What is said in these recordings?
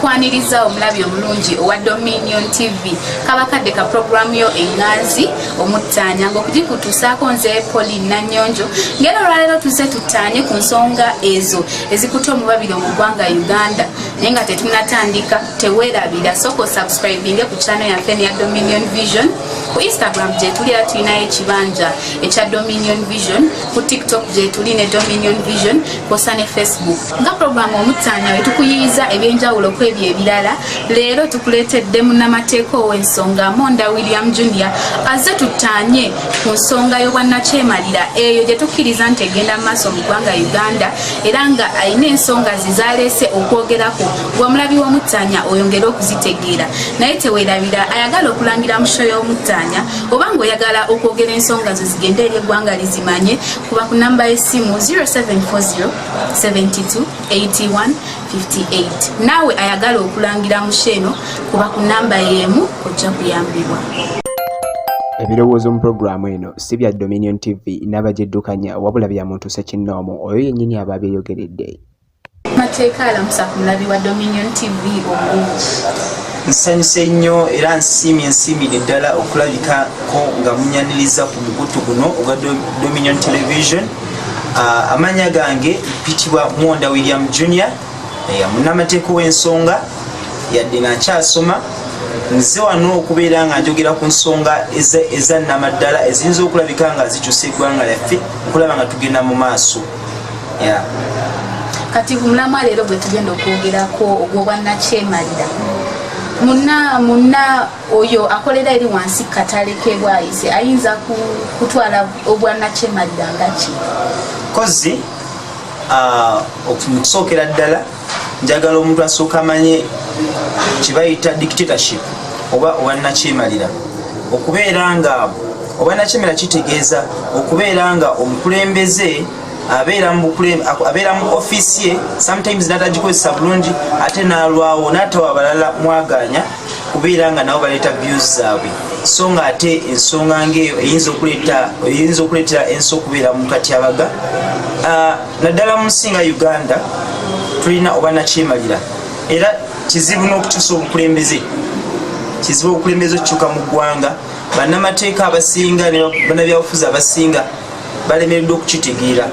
okwaniriza omulabi omulungi owa dominion tv kabakadde ka puroguramu yo enganzi omuttaanya ngaokugikutuusaako nze poli nanyonjo ngera olwaleero tuze tuttaanye ku nsonga ezo ezikuta omubabiro mu ggwanga uganda naye nga tetunatandika tewerabira sooka osubscribinge ku channel yaffe neya dominion vision ku instagram gyetuli era tulinayo ekibanja ekya dominion vision ku tiktok gyetuli ne dominion vision kwosa ne facebook nga programu omutanya wetukuyiyiza ebyenjawulo ku ebyo ebirala leero tukuleetedde munamateeka ow'ensonga monda william junior azze tutanye ku nsonga y'obwannakyemalira eyo gye tukkiriza nti egenda mu maaso mu ggwanga uganda era nga alina ensonga ze zaleese okwogerako gwamulabi w'omuttaanya oyongere okuzitegeera naye tewerabira ayagala okulangira musho y'omuttaanya oba ng'oyagala okwogera ensonga zo zigende eri eggwanga lizimanye kuba ku namba y'essimu 0740 72 81 58 naawe ayagala okulangira musho eno kuba ku namba y'emu ojja kuyambibwa ebirowoozo mu pulogulaamu eno si bya Dominion TV n'abagiddukanya wabula bya muntu ssekinnoomu oyo yennyini aba abyeyogeredde mateeka alamusa ku mulabi wa Dominion TV obulungi nsanyuse nnyo era nsiimye nsiimire ddala okulabikako nga munyaniriza ku mukutu guno ogwa Dominion Television uh, ah, amanya gange pitibwa Mwonda William Junior munnamateeka w'ensonga yadde nga nkyasoma nze wano okubeera nga njogera ku nsonga ezannamaddala eziyinza okulabika nga zikyusa eggwanga lyaffe okulaba nga tugenda mu maaso kati mulamwa leero gwe tugenda okwogerako ogwobwannakyemalira muna muna oyo akolera eri wansi katale kebwayise ayinza kutwala obwannakyemalira ngaki kozi Ah, okusookera ddala njagala omuntu asooka amanye kyebayita dictatorship oba obannakyemalira okubeera nga obannakyemalira kitegeeza okubeera nga omukulembeze abeera mu ofiisi ye sometimes natagikozesa bulungi ate nalwawo natawa balala mwaganya kubeera nga nabo baleeta views zaabwe so nga ate ensonga ngaeyo eyinza okuleetera ensi okubeera mu katyabaga ah, naddala mu nsi nga uganda tulina oba nakyemalira era kizibu n'okukyusa obukulembeze kizibu obukulembeze okukyuka mu ggwanga bannamateeka abasinga banabyabufuzi abasinga balemereddwa okukitegeera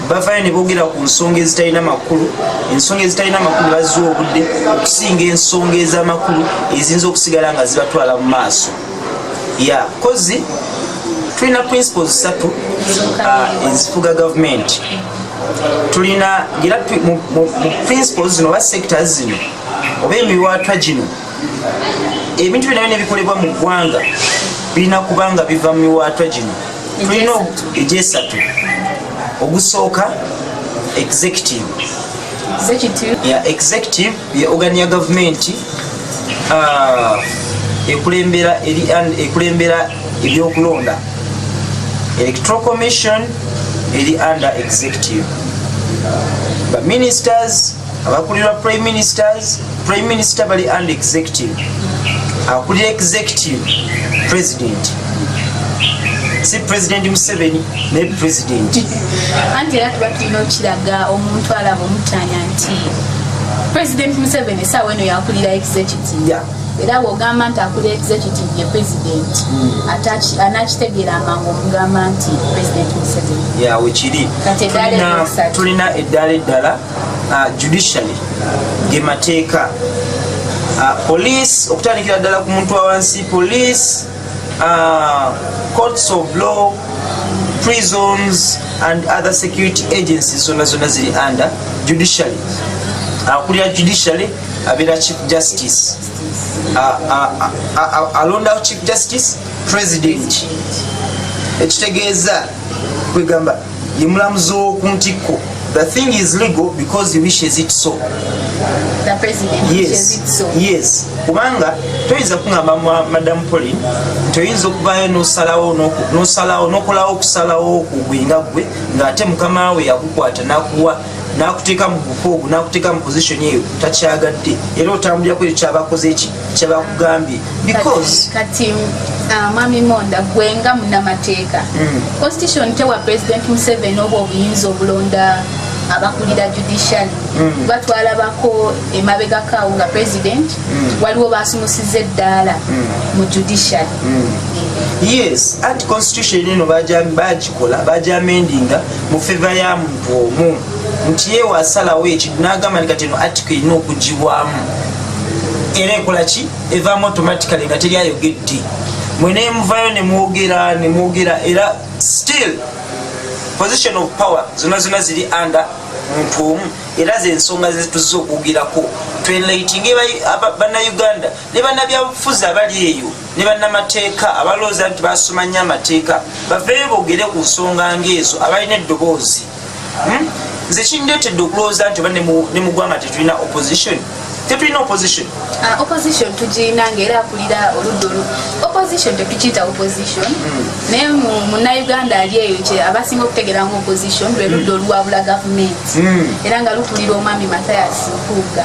bavayo ne boogera ku nsonga ezitalina makulu ensonga ezitalina makulu bazza obudde okusinga ensonga ez'amakulu eziyinza okusigala nga zibatwala mu maaso ya kozi tulina principles satu uh, ezifuga gavumenti tulina era mu principles zino oba sectors zino oba emiwaatwa gino ebintu binayo nebikolebwa mu ggwanga birina kuba nga biva mu miwaatwa gino tulina egyesatu ogusooka executive executive ye ogani ya gavumenti uh, ekulembera ebyokulonda electoral commission eri under executive baministers abakulirwa prime ministers prime minister bali and executive akulira executive president si president museveni naye president anti era tuba tulina okiraga omuntu alaba omutanya nti president museveni esaawa eno yakulira executive yeah. era bwogamba nti akuli executive ye president hmm. anakitegeera amangu omugamba nti president museveni tulina eddaala eddala uh, judicially ge mateeka uh, police okutandikira ddala ku muntu wawansi police uh, courts of law prisons and other security agencies zona zona ziri under judicially akulira uh, judicially abeera chief justice alondawo uh, uh, uh, chief justice president ekitegeeza kwegamba ye mulamuzi w'oku ntikko the thing is legal because he wishes it so the president yes. wishes it so yes kubanga toyinza kungamba madam polin toyinza okubayo nosalawo nosalawo nokolawo okusalawo kugwe nga gwe ngaate mukama we yakukwata nakuwa nakuteeka mu buka ogu nakuteeka mu position eyo takyagadde era otambulira ku ekyo kyabakoze eki kyabakugambye because kati uh, mami monda gwe nga munamateeka mm. constitution tewa president museveni oba obuyinza obulonda abakulira judicial mm. batwalabako emabega kaawo nga president mm. waliwo basumusiza eddaala mm. mu judicial yes anti constitution eno bajikola bajamendinga mu feva yamu omu nti yewe asalawo ekintu n'agamba nti kati eno atiko erina okugibwamu era ekola ki evaamu automatically nga teri ayogedde mwe nemuvayo nemwogera nemwogera era still position of power zona zona ziri under muntu omu era zensonga zetuza okwogerako twelaitinge banauganda ne banabyabufuzi abali eyo ne bannamateeka abalowooza nti basoma nnyo amateeka baveeyo bogere ku nsonga ngaezo abalina eddoboozi hmm? nze kindeetedde okulowooza nti oba ne mugwanga tetulina opposition tetulina opposition ah, opposition tugirina ngaera akulira oludda olu opposition tetukiyita opposition hmm. naye munauganda ali eyo kye abasinga okutegera nga opposition lwe ludda hmm. oluwabula gavumenti era nga lukulira omwami mathias mpuuga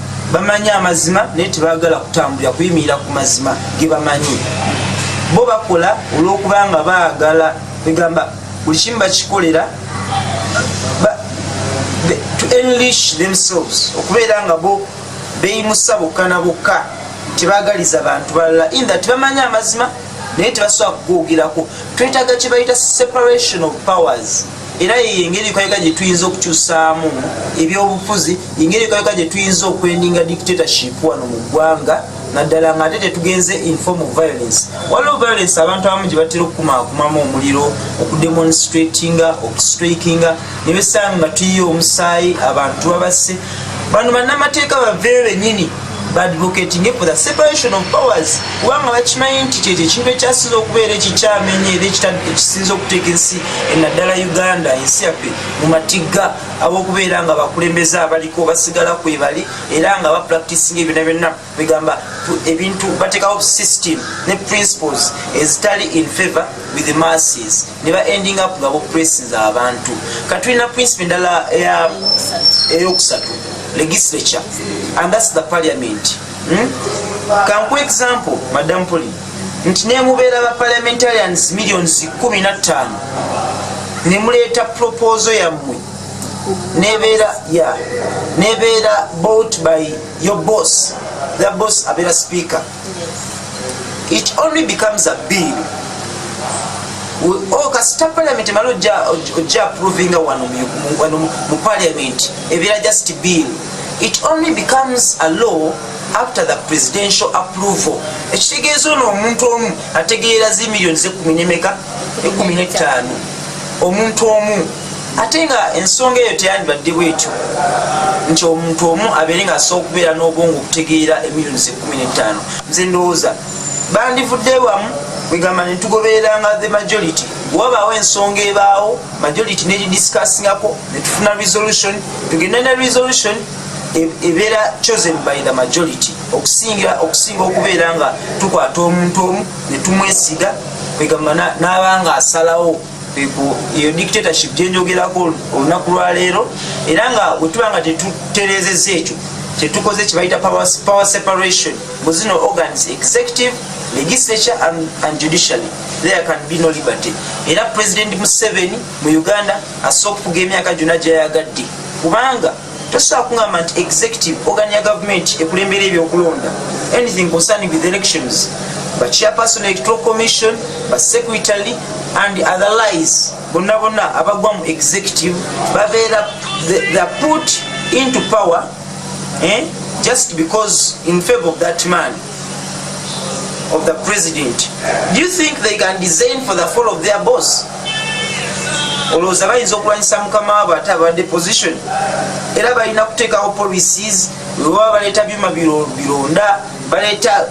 bamanyi amazima naye tebagala kutambulira kuyimirira ku mazima gebamanyi bo bakola olwokubanga baagala egamba buli kimu bakikolera to enlish themselves okubeera nga bo beyimusa bokka na bokka tebagaliza bantu balala intha tebamanyi amazima naye tebasobola kugoogerako twetaga kyebayita separation of powers era yeyo engeri kayega gye tuyinza okukyusaamu ebyobufuzi engeri kayega gye tuyinza okwendinga dictatorship wano mu ggwanga naddala nga ate tetugenze inform of violence waliwo violence abantu abamu gye batera okukumakumamu omuliro okudemonstratinga okustraikinga ne besanga nga tuyiye omusaayi abantu babasse bano bannamateeka baveyo benyini badvocating for the separation of powers kubanga bakimanyi nti kyekyo ekintu ekyasinza okubeera ekikyamenye era ekisinza okuteeka ensi enaddala uganda ensi yaffe mu matigga abokubeera nga bakulembeze abaliko basigala kwebali era nga bapractisinga ebyona byonna begamba ebintu batekawo system ne principles ezitali in favor with the masses ne ba ending up nga bopressinze abantu katulina principe endala eyokusatu legislature and thats the parliament hmm? kanku example madam poli nti nemubeera ba parliamentarians millions kumi na ttaano nemuleeta proposal yammwe nebeera ya nebeera bought by your boss the boss abeera speaker it only becomes a bill oh, kasita parliament emala ojja approvinga wano mu parliament ebira just bill it only becomes a law after the presidential approval ekitegeeza ono omuntu omu ategeera zi millioni zekumi nemeka ekumi netaano omuntu omu ate nga ensonga eyo teyandibadde bwetyo nti omuntu omu abeere nga asobola okubeera n'obwongo okutegeera emiliyoni zekumi n'ettaano nze ndowooza bandivudde wamu kwegamba netugobereranga the majority wabaawo ensonga ebaawo majority neridiscussingako netufuna resolution tugende ne resolution e-, ebeera chosen by the majority okusinga okusinga okubeera nga tukwata omuntu omu netumwesiga kwegamba n'abanga asalawo eyo dictatorship gyenjogerako olunaku lwaleero era nga wetuba nga tetuterezeza ekyo kyetukoze kyebayita power separation mu zino organs executive legislature and, and judicially there can be no liberty era president museveni mu uganda asooka okuga emyaka gyona gyayagadde kubanga tosobola kungamba nti executive organ ya gavumenti ekulembera ebyokulonda anything concerning with elections ba chairperson electoral commission ba secretary and other lies bonna bonna abagwa mu executive babeera the put into power eh? just because in favor of that man of the president do you think they can design for the fall of their boss olowooza bayinza okulwanyisa mukama wabwe ate abadde position era balina kuteekawo policies webaba baleeta byuma bironda baleeta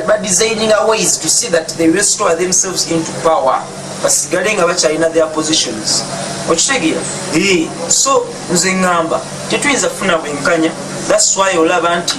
badesigning a ways to see that they restore themselves into power basigale nga bakyalina their positions okitegeera so nze ŋŋamba tetuyinza kufuna bwenkanya thats why olaba nti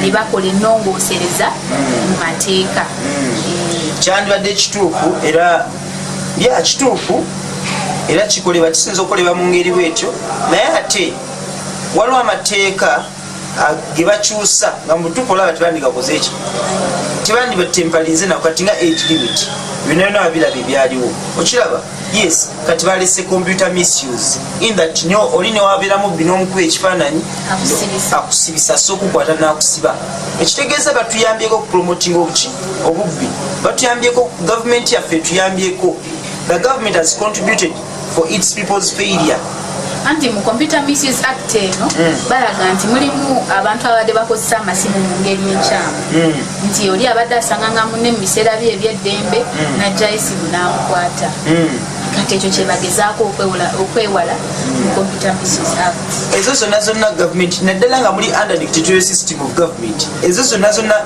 ne bakola ennongoosereza mu mateeka kyandibadde kituufu era ya kituufu era kikolebwa kisinza okukolebwa mu ngeri bwetyo naye ate waliwo amateeka ge bakyusa nga mubutuufu olaba tebandigakoze ekyo tebandibatempalinze nako kati nga age limit binabyona wabiraba ebyaliwo okiraba yes kati balese computer misuse in that nyo oli newabera mubbi nomukuba ekifaananyi akusibisa so okukwata nakusiba ekitegeeza batuyambyeko okupromoting obuki obubbi batuyambyeko gavumenti yaffe etuyambyeko the government has contributed for its people's failure anti mu computer misuse act eno mm. balaga nti mulimu abantu ababadde bakozesa amasimu mu ngeri enkyamu mm. nti oli abadde asanganga mune mu biseera bye ebyeddembe mm. najja esimu n'amukwata kati ekyo kyebagezaako okwewala mu computer misuse act ezo zonna zonna gavumenti naddala nga muli under dictatorial system of government ezo zonna zonna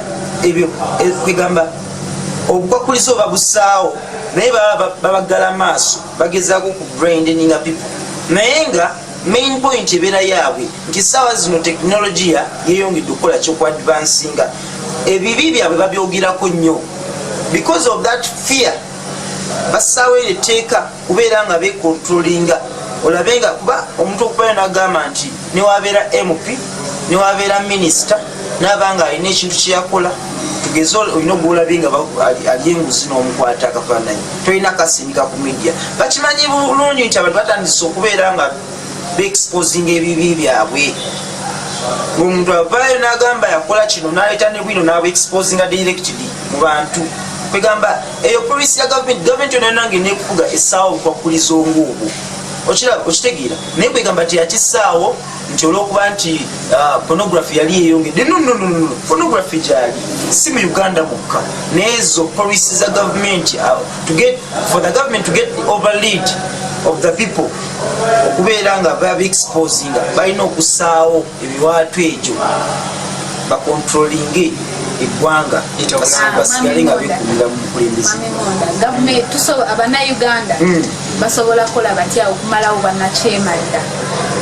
ebyo e, kwegamba obukwakkulizo oba busaawo naye baba bagala maaso bagezako ku brandinga people naye nga main point ebeera yaabwe nti saawa zino tekinologiya yeyongedde okukola kyoku advansinga ebibi byabwe babyogerako nnyo because of that fear basaawo ero etteeka kubeera nga bekontrolinga olabe nga kuba omuntu okubayo nagamba nti newabeera mp newabeera minisita naba nga alina ekintu kyeyakola tugeze olina ogulabi nga ali enguzi n'omukwata akafaananyi tolina kasindika ku media bakimanyi bulungi nti abantu batandise okubeera nga beexposinga ebibi byabwe ngaomuntu avaayo nagamba yakola kino naleeta ne bwino nabuexposinga directly mu bantu kwegamba eyo polisi ya gavumenti gavumenti yonanange nekufuga esaawa obukwakuliza onguubwo okiraba okitegeera naye kwegamba nti yakisaawo nti olwokuba nti uh, pornography yali eyongedde nonnonono pornography gyali si mu uganda mukka neezo policy za gavumenti uh, for the government to get the overlead of the people okubeera nga babexposinga balina okusaawo ebiwaatu egyo bakontrolinge eggwanga basigale nga bekumira mu bukulembeze basobola kukola batya okumalawo bannakyemalira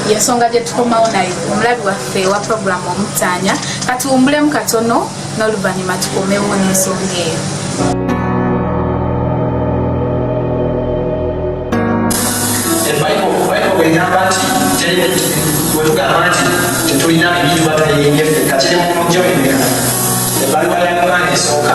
yensonga gye tukomawo naye omulabi waffe wa puroguramu omutaanya katuwumbulemu katono n'oluvannyuma tukomewo n'ensonga eyo egamba nti terimiti wetugamba nti tetulina ebintu batuleyenge ffe kakiri mu mujjo emeka ebbaluwa ya yokaana esooka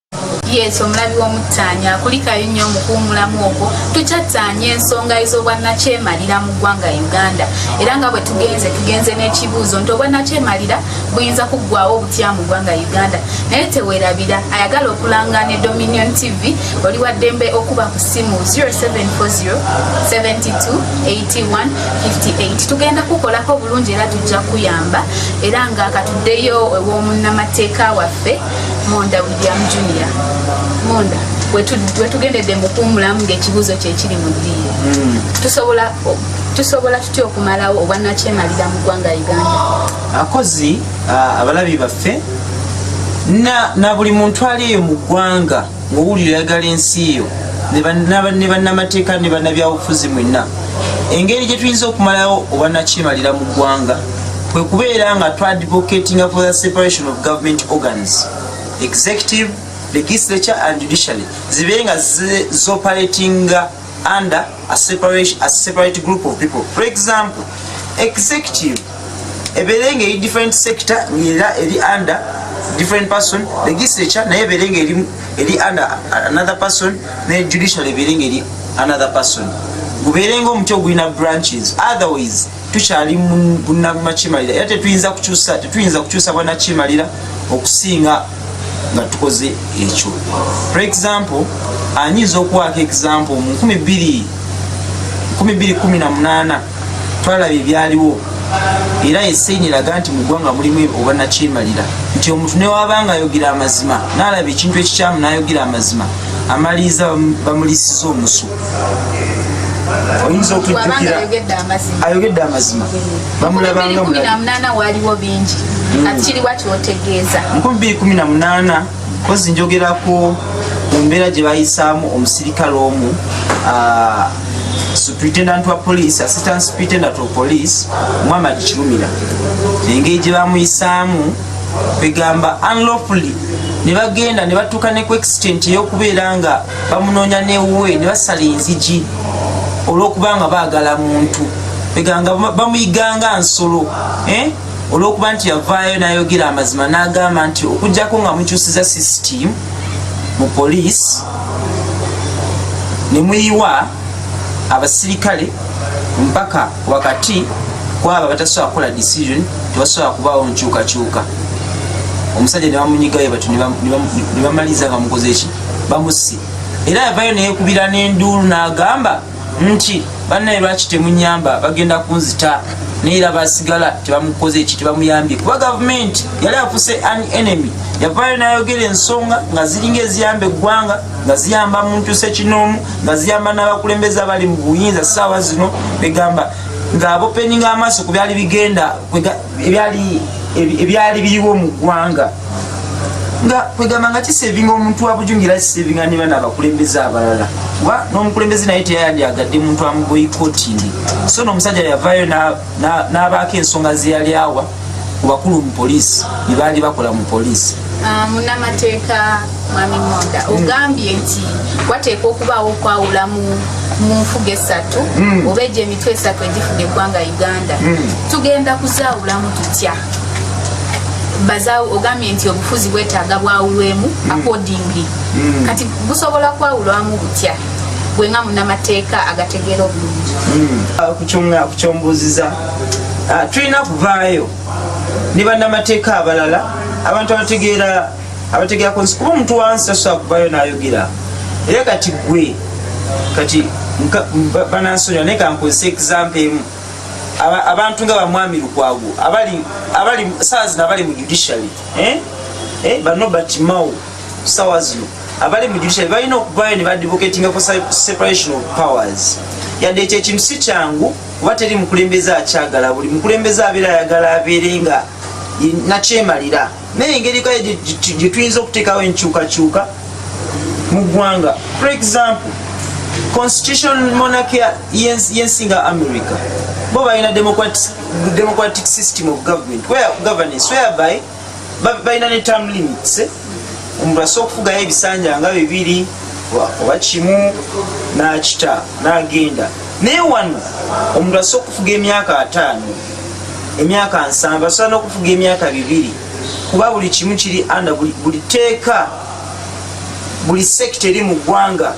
yesu omulabi w'omuttaanya akulikayo nnyo omukuwumulamu ogwo tukyattaanya ensonga ez'obwannakyemalira mu ggwanga uganda era nga bwe tugenze tugenze n'ekibuuzo nti obwannakyemalira buyinza kuggwawo obutya mu ggwanga uganda naye tewerabira ayagala okulanga ne dominion tv oli wa ddembe okuba ku ssimu 0740728158 tugenda kukolako obulungi era tujja kuyamba era nga katuddeyo ew'omunnamateeka waffe Monda William Junior Monda wetugendedde mukuwumulamu ngaekibuuzo kyekiri mu ddiiro hmm. tusobola tusobola tutya okumalawo obwanakyemalira mu ggwanga uganda akozi abalabi baffe na buli muntu ali eyo mu ggwanga Owulira oyagala ensi yo ne bannamateeka ne bannabyabufuzi mwenna engeri gye tuyinza okumalawo obwanakyemalira mu ggwanga kwe kubeera nga twadvocatinga for the separation of government organs executive legislature and judiciary zibe nga zoperatinga under a separate, a separate group of people for example executive ebeere nga eri different sector era eri under different person legislature naye ebeere nga eri under another person ne judicial ebeere nga eri another person gubeere nga omuti ogulina branches otherwise tukyali bunabmakyemalira era tetuyinza kukyusa tetuyinza kukyusa bwanakyemalira okusinga nga tukoze ekyo for example anyinza okuwaako example mu 2 18 twalaba ebyaliwo era esaini eraga nti mu ggwanga mulimu obwanakyemalira nti omuntu newaba nga ayogera amazima nalaba ekintu ekikyamu nayogera amazima amaliriza bamulisiza omusu oyinza okujjukira ayogedde amazima bamulabanga waliwo bingi hmm. kati kiriwa kyotegeeza 218 kozi njogerako mu mbeera gye bayisaamu omusirikale omu ah, superintendent wa police assistant superintendent of police muhammad kirumira engeri gye bamuyisaamu kwegamba unlawfully ne bagenda ne batuuka ne ku extent ey'okubeera nga bamunoonya newuwe ne basala enzigi olw'okuba nga baagala muntu kweganga bamuyiganga nsolo eh? olw'okuba nti yavaayo n'ayogera amazima n'agamba nti okugyako nga mukyusiza system mu poliisi ne muyiwa abasirikale mpaka wakati kwabo abatasobola kukola decision tebasobola kubaawo nkyukakyuka omusajja nebamunyigayo batu nebamaliza nga mukoze ki bamusi era yavayo neyekubira n'enduulu n'agamba nti bannaye lwaki temunyamba bagenda kunzita naye era basigala tebamukoze eki tebamuyambye kuba gavumenti yali afuse an enemy yavaayo nayogera ensonga nga ziringa eziyamba eggwanga nga ziyamba muntu sekinoomu nga ziyamba n'abakulembeze abali mu buyinza saawa zino begamba ng'abopeninga amaaso ku byali bigenda ebyali ebyali biriwo mu ggwanga nga kwegamba nga kisevinga omuntu wabujungira kisevinga ne bana abakulembeze abalala kuba n'omukulembeze naye teyayandyagadde muntu amuboyikotingi so n'omusajja yavayo n'abaako ensonga zeyali awa ku bakulu mu poliisi ne baali bakola mu poliisi ah, munamateeka mwami monda hmm. ogambye nti wateekwa okubaawo okwawula mu nfuga esatu hmm. oba egyo emitwe esatu egifuga eggwanga uganda hmm. tugenda kuzaawulamu tutya ogambye nti obufuzi bwetaaga bwawulwemu accordingly kati busobola kwawulwamu butya gwe nga munamateeka agategeera obulungi ah, kukyombuuziza ah, tulina kuvaayo ne bannamateeka abalala abantu abategeera abategera kunsi kuba omuntu wansi tasobola kuvayo nayogera era kati gwe kati banansonyiwa naye kankozesa exampe emu abantu nga bamwami lukwago abali saa zino abali mu judiciary eh? Eh, banobert mao sawa zino abali mu judiciary balina okuvayo ne badivocatinga ku separation of powers yadde ekyo ekintu si kyangu kuba teri mukulembeze akyagala buli mukulembeze abeera ayagala abeere nga nakyemalira naye engeri kale gye tuyinza okuteekawo enkyukakyuka mu ggwanga for example constitution monarchy y'ensi nga america bo balina democratic system of government where governance whereby balina ne term limits eh? omuntu asobola okufugayo ebisanja nga bibiri oba kimu n'akita n'agenda naye wano omuntu asobola okufuga emyaka ataano emyaka nsanvu asobola n'okufuga emyaka bibiri kuba buli kimu kiri anda buli teeka buli sekita eri mu ggwanga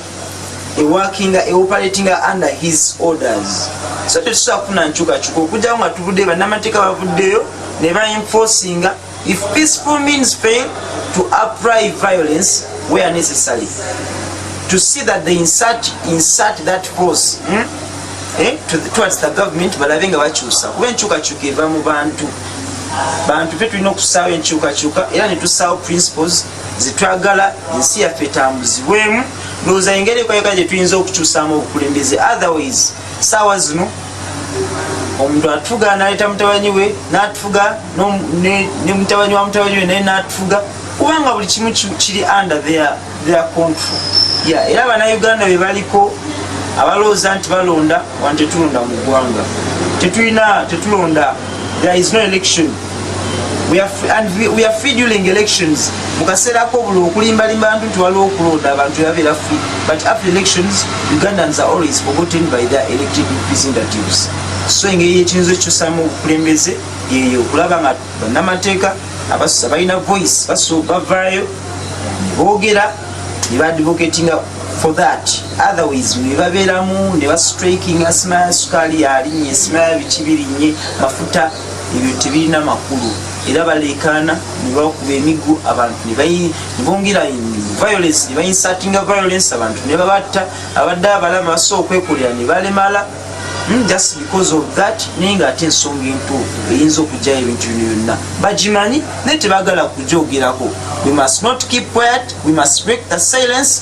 ewakinga eoperatinga under his orders so tetusobola kufuna nkyukakyuka okujjako nga tuvuddeyo bannamateeka bavuddeyo ne bainfosinga If peaceful means fail to apply violence where necessary to see that they insert, insert that force hmm? eh, to the, towards the government balabe nga bakyusa kuba enkyukakyuka eva mu bantu bantu pe tulina okusaawo enkyukakyuka era netusaawo principles zetwagala ensi yaffe etambuzibwemu ndowooza engeri ekoyeka gyetuyinza okukyusaamu obukulembeze otherwise saawa zino omuntu atufuga naleta mutabanyi we natufuga ne mutabanyi wa mutabanyi we naye natufuga kubanga buli kimu kiri under their control ya era banauganda bebaliko abalowooza nti balonda wantetulonda mu ggwanga tetulina tetulonda there is no election mukaseera kobula okulimbalimba ntu nti waliwo okulonda abantu yabeera free but after elections ugandans are always forgotten by their elected representatives so engeri yekiyinza ekikyusamu obukulembeze yeyo okulaba nga banamateeka abalina voice bavaayo nebogera nebadvocatinga for that otherwise nebabeeramu nebastrikinga sima ya sukaali yalinye sima ya biki birinye mafuta ebyo tebirina makulu era baleekaana nebakuba emiggo abantu nebongera violence nebainsatinga violence abantu nebabatta abadde abalama basobola okwekolera nebalemala hmm, just because of that naye nga ate ensonga entuufu eyinza okugyayo ebintu bino byonna bagimanyi naye tebagala kugyogerako we must not keep quiet we must break the silence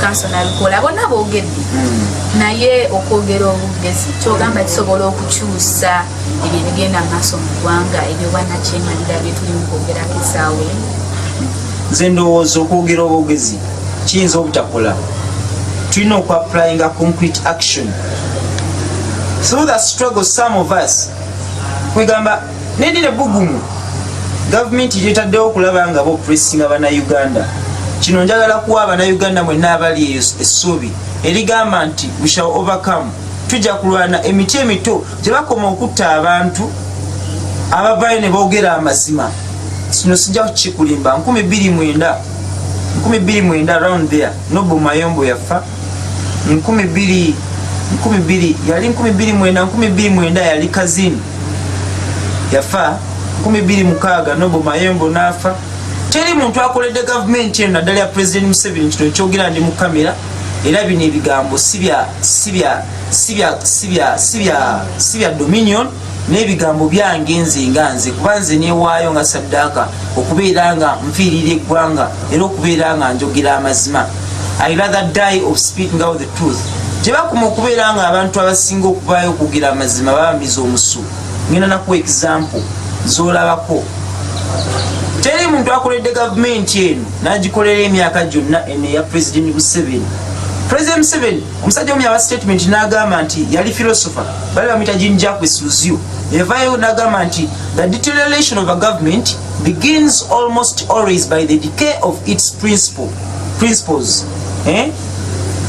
kansona abikola bonna boogedde naye okwogera obugezi kyogamba kisobola okukyusa ebyo ebigenda mu maaso mu ggwanga ebyo banakyemalira byetulimu kwogerako esaawa emu nze ndowooza okwogera obwogezi kiyinza obutakola tulina okuapplyinga concrete action through the struggle some of us kwegamba nendira bugumu gavumenti gyetaddewo okulaba nga bopressinga banauganda kino njagala kuwa abanauganda mwenna abali eyo essuubi erigamba nti we shall overcome tujja kulwana emiti emito gyebakoma okutta abantu abavayo ne boogera amazima kino sijja kukikulimba 2 mwenda 2 mwenda round there nobumayombo yaffa nkumi bbiri nkumi bbiri yali nkumi bbiri mwenda nkumi bbiri mwenda yali kazini yafa nkumi bbiri mukaaga nobo mayembo n'afa teri muntu akoledde gavumenti eno naddala ya pulezidenti museveni kino ekyogera ndi mu kamera era bino ebigambo si bya dominion n'ebigambo byange nze nga nze kuba nze newaayo nga saddaaka okubeera nga nfiirira eggwanga era okubeera nga njogera amazima i rather die of speaking out the truth tebakuma okubeera nga abantu abasinga okubaayo okugira amazima babamiza omusu ngenda nakuwa example zolabako teri muntu akoledde gavumenti eno nagikolera emyaka gyonna eno eya president museveni president museveni Omusajja omu yawa statement n'agamba nti yali philosopher bali bamuyita Jean Jacques Suziu evayo n'agamba nti the deterioration of a government begins almost always by the decay of its principle principles eh?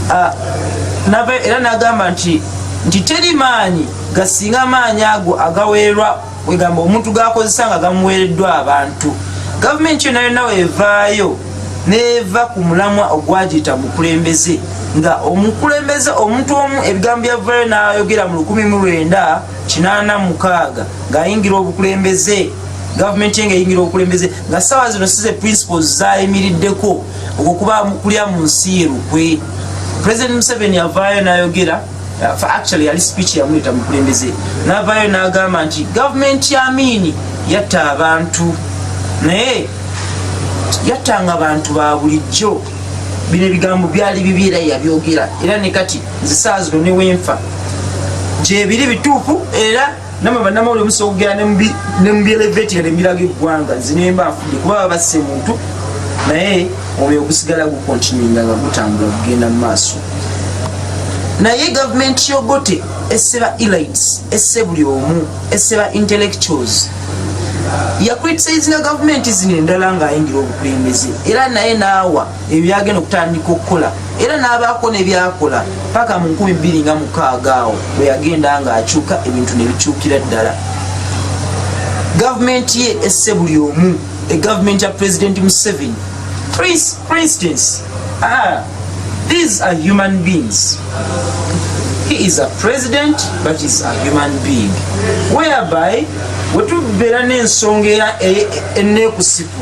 uh, era n'agamba nti nti teri maanyi gasinga maanyi ago agaweerwa kwegamba omuntu gakozesa nga gamuweereddwa abantu gavumenti yona yona wevaayo neva ku mulamwa ogwagiyita mukulembeze nga omukulembeze omuntu omu ebigambo byavayo nayogera mu lukumi mu lwenda kinaana mukaaga ngaayingira obukulembeze gavumenti enge eyingira obukulembeze nga saawa zino size principles zayimiriddeko okukuba kulya mu nsi ye lukwe president museveni avaayo nayogera Uh, for actually yali speech yamuleta mukulembeze navayo nagamba nti government ya amini yatta abantu naye yattanga bantu ba bulijjo bino ebigambo byali bibi era yabyogera era ne kati nzisaazi no newenfa gyebiri bituufu era nama banamawulire musobola okugera ne mu byeleveti yade embiraga eggwanga zinemba afudde kuba baba basse muntu naye omwoyo ogusigala gukontinuinga nga gutambula kugenda mu maaso naye gavumenti yogote esse ba elites esse buli omu esse ba intellectuals yacritisayizinga gavumenti zino endala ng'ayingira obukulembeze era naye naawa ebyagenda okutandika okukola era n'abaako nebyakola paka mu 2 nga mukaaga awo bweyagenda nga akyuka ebintu nebikyukira ddala gavumenti ye esse buli omu egavumenti ya pulezidenti museven prince for instance ah, these are human beings he is a president but is a human being whereby wetubeera n'ensonga eya e, e, enekusipu